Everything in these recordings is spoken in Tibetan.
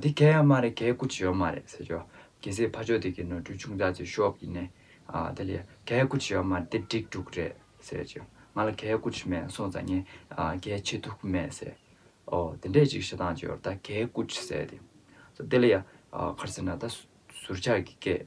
འདི་གལ་ཡང་མ་རེད་གལ་ཀུ་ཅི་ཡང་མ་རེད་ཟེར་གྱི། རྒྱལ་སྲས་ཕ་ཆོས་དེ་གའི་ནོར་འཁྲུལ་ཆུང་ཙག་ཅིག་ཤོབ་ཡིན་ནས། དེ་ལས་གལ་ཀུ་ཅི་ཡང་མ་རེད་འདི་སྒྲིག་དཀྲུག་རེད་ཟེར་གྱི། ང་ལ་གལ་ཀུ་ཅི་མེད་སོང་ཙང་ངས་གལ་ཆེ་ཐུག་གི་མེད་ཟེར། ཨོ་དེ་འདྲས་ཅིག་ཞེ་སྡང་གཅོད་ད་གལ་ཀུ་ཅི་ཟེར་དེ། དེ་ལ་ཡ། གར་ཟེར་ན་ད་ཟུར་ཆག་གི་སྐད།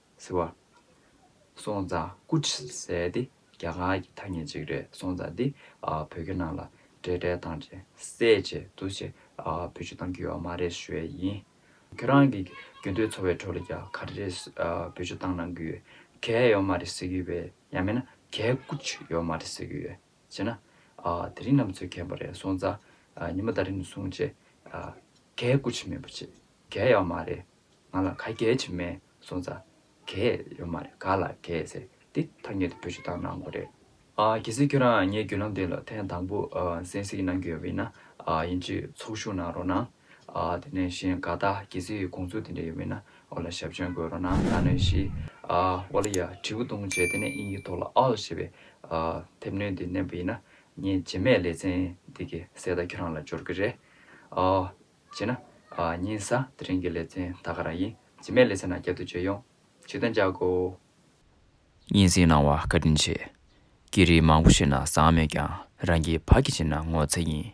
ཟེར་བ། སོང་ཙང་སྐུ་ཁྲི་ཟེར་ཏེ་རྒྱ་གར་གྱི་ཐ་སྙད་ཅིག་རེད་སོང་ཙང་འདི་བོད་སྐད་ནང་ལ་འདྲེས་འདྲེས་བཏང་རྗེས་གསལ་བྱེད་དུ་ཆེ་བོད་ཆུ་བཏང་གི་ཡོད་མ་རེད་ཞུ་ཡས་ཡིན། ཁྱོད་རང་གི་རྒྱུན་སྡོད་འཚོ་བའི་ཁྲོད་ལ་རྒྱ་གར་རེད་བོད་ཆུ་བཏང་གནང་གི་ཡོད་གལ་ཡོད་མ་རེད་ཟེར་གི་ཡོད་པས་ཡང་མེད་ན་གལ་སྐུ་ཁྲི་ཡོད་མ་རེད་ཟེར་གི་ཡོད་བྱས་ན། དེ་རིང་ནམ་འཚོའི་ཁྱད་པར་རེད་སོང་ཙང་ཉི་མ་ད་རིང་ནས་བཟུང་རྗེས་གལ་སྐུ་ཁྲི་མེད་པ་བྱས་གལ་ཡོད་མ་རེད། ང་ལ་ག་རྒྱལ་ཆེ་མེད་སོང་ཙ་གས་ཡོད་མ་རེད་ག་ལ་གས་ཟེར་དེ་ཐ་སྙད་དུ་བོད་སྤྱི་དང་ནང་གོ་རེད། གལ་སྲིད་ཁྱོད་རང་ངའི་བརྒྱུད་ལམ་དེ་ལ་ཐེངས་དང་པོ་གསན་གཟིགས་གནང་རྒྱུ་ཡོད་མིན་ན་ཡིན་གཅིག་ཚོགས་ཞུགས་གནང་རོགས་གནང། དེ་ནས་གཞན་ག་ད་གལ་སྲིད་དགོངས་ཚུལ་དེ་འདྲ་ཡོད་མིན་ན་འོ་ལ་ཞབས་ཆོན་འགོད་རོགས་གནང་ད་ནས་བཞི་འོ་ལ་ཡ་དྲི་བུ་ཐུང་བྱས་དེ་ནས་དབྱིན་ཡིག་ཐོག་ལ all ཞེས་པའི་དེབ་སྣོན་དེ་བསྣན་པ་ཡིན་ན་ངས་རྗེས་མའི་ལེ་ཚན་འདི་གའི་གསལ་བརྡ་ཁྱོད་རང་ལ་འབྱོར་གི་རེད། བྱས་ན། གཉིས་ས་དེ་རིང་གི་ལེ་ཚན་ད་ག་རང་ཡིན་ཇི་མེད་ལེ་ཚན་ནང་བསྐྱར་བསྡུ་བྱེད་ཡོང། ཇི་ལྟ་འཇག་གོ། སྙན་སེང་གནང་བ་བཀའ་དྲིན་ཆེ། སྐད་རིགས་མང་པོ་ཤེས་ན་བཟང་མོད་ཀྱང་རང་གི་བག་གི་བྱེད་ན་ངོ་ཚ་ཡིན།